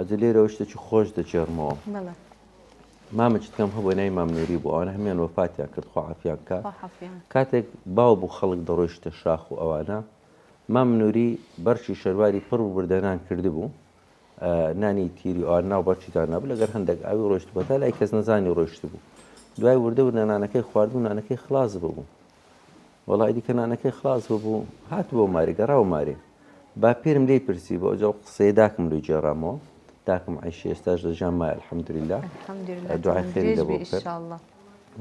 ئەدە لێرەوە شتێکی خۆش دەگێڕمەوە بەڵێ مامە جتکەم هەبوو نای مام نووری بوو ئەوانە هەمیان وەفاتیان کرد خوا عافیان کا خوا حافیان کاتێک باو بوو خەڵک دەڕۆیشتە شاخ و ئەوانە مام نووری بەرچی شەرواری پڕ و بردەنان کردبوو ئە، نانی تیری ئەوان ناو بەرچی دانابوو لەگەر هەندێک ئاوی ڕۆیشت بوو تا لای کەس نەزانی ڕۆیشت بوو دوای وردە وردە نانەکەی خواردبوو نانەکەی خلاص ببوو وەڵا ئیدی کەنانەکەی خڵاس ببوو هاتبۆ مارێ گەڕاوە مارێ باپیرم لێی پرسی بۆ ئەجەڵ قسەی داکم لۆی گێڕامەوە داکم عیشی ئێستاش لە ژان مایە الحمدللە دوعای خێری لە بۆ بکە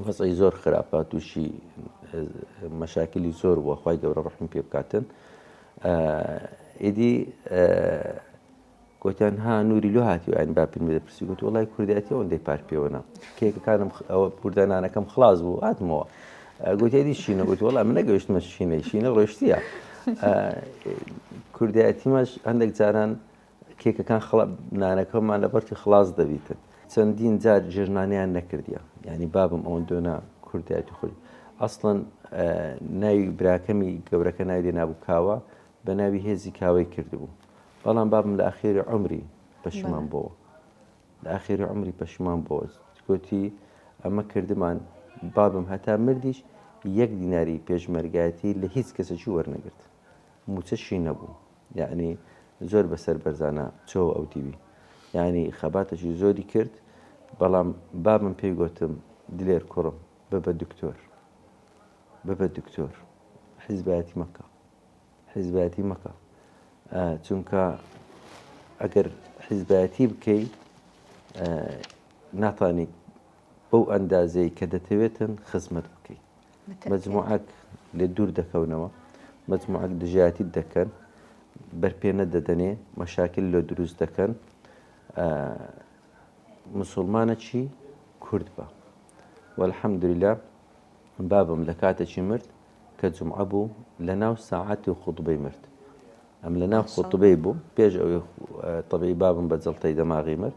وەزعی زۆر خراپە تووشی مەشاکلی زۆر بووە خی گەورە ڕحم پێ بکاتن ئیدی گۆتیان ها نوری لۆ هاتیوە ئەن با پێ پرسی گوت وڵای کوردایەتی ئەوەندەی پار پێوەنا کێکەکانم ئەوە کوردانانەکەم خلاص بوو هاتمەوە گوتێری شینە گوت وڵام من نەگەشتمە شینە شینە ڕۆشتیە کوردایەتیمەش هەندێک جاران کێکەکان خڵە نانەکەمان لە بەرتی خلاص دەبیتن چەندین جار ژێژنانیان نەکردیە ینی بابم ئەوەن دۆنا کوردایەتی خۆی ئەسڵەن ناوی براکەمی گەورەکە ناوی لێ نابوو کاوە بە ناوی هێزی کاوەی کردبوو بەڵام بابم لە ئاخێری عمری پەشمان بۆوە لە ئاخێری عمری پەشمان بۆوە گوتی ئەمە کردمان بابم هەتا مردیش یەک دیناری پێشمەرگایەتی لە هیچ کەسەکی وەرنەگرت موچەشی نەبوو یعنی زۆر بەسەر بەرزانە چۆ ئەو دیوی یعنی خەباتەکی زۆری کرد بەڵام بابم پێی گوتم دلێر کوڕم ببە دکتۆر ببە دکتۆر حزبایەتی مەکە حیزبایەتی مەکە چونکە ئەگەر حیزبایەتی بکەی ناتانیت بەو ئەندازەی کە دەتەوێتن خزمەت بکەی مجموعەک لێ دوور دەکەونەوە مجموعەک دژایەتی دەکەن بەرپێنە دەدەنێ مەشاکل لۆ دروست دەکەن مسلمانە چی کورد بە وەلحەمدولا بابم لە کاتێکی مرد کە جومعە بوو لە ناو ساعەتی و خوتبەی مرد ئەم لە ناو خوتبەی بوو پێش ئەوی طبی بابم بە جڵتەی دەماغی مرد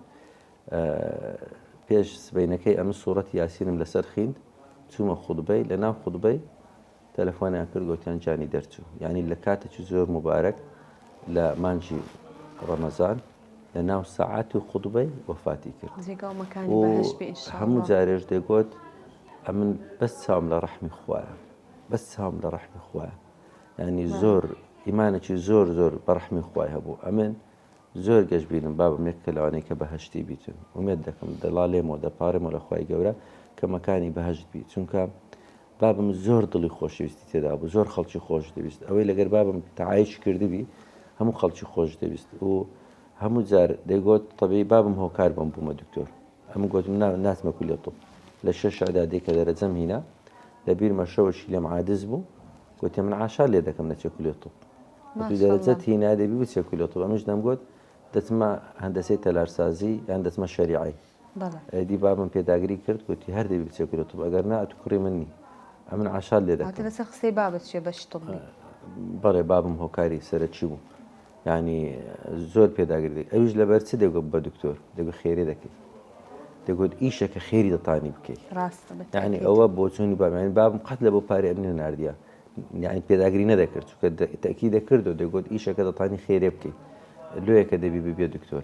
پێش سبینەکەی ئەم سوورەت یاسینم لەسەر خیند چوومە خوتبەی لە ناو خوتبەی تەلەفۆنیان کرد گوتیان جانی دەرچوو یعنی لە کاتێکی زۆر مبارەک لە مانجی ڕەمەزان لە ناو سەعاتی خوتبەی وەفاتی کرد و هەموو جارێش دەگۆت ئەمن بەس چاوم لە ڕەحمی خوایە بەس چاوم لە ڕەحمی خوایە ینی زۆر ئیمانێکی زۆر زۆر بەڕحمی خخوای هەبوو ئەمن زۆر گەشت بینم بابم یەک کە لەوانەیە کە بەهشتی بیتن ومێت دەکەم دەڵا لێمەوە دەپارێمەوە لە خخوای گەورە کەمەکانی بەهشت بی چونکە بابم زۆر دڵی خۆشەویستی تێدا بوو زۆر خەڵکی خۆش دەویست ئەوەی لەگەر بابم تەعایش کردبی هەموو خەڵکی خۆش دەویست و هەموو جار دەیگۆت تەبی بابم هۆکار بم بوومە دکتۆر ئەم گوتم نا ناتمە کولی طب لە شەش عدادی کە دەرەجەم هینا لە بیرمە شەوەشی لێم عادز بوو گوتێ من عاشار لێ دەکەم نەچێ کولی طب وتی دەرەجەت هینا دەبی بچێ کولی طب ئەمش دەمگوت دەچمە هەندەسەی تەلارسازی یان دەچمە شەریعی بەڵێ. ئەیدی بابم پێداگری کرد گۆتی، هەر دەبی بچێ گورە توب ئەگەر نا ئەتو کوڕی من نی ئەمن عاشات لێ دەکەم. واتە لەسەر قسەی بابت چیە بەشی طبی؟ بەڵێ بابم هۆکاری سەرەکی بوو یانی زۆر پێداگری دەکرد ئەویش لەبەر چ دەگوت بە دکتۆر دەگوت خێری دەکەی دەگوت ئیشە کە خێری دەتانی بکەی یعنی ئەوە بۆچوونی بابیان بابم قەت لە بۆ پارێ ئەمنی نردە یعنی پێداگری نەدەکرد چکە تەکی دەکرد و دەگوت ئیشەکە دەتانی خێرێ بکەی لۆیەکە دەبی ببێ دکتۆر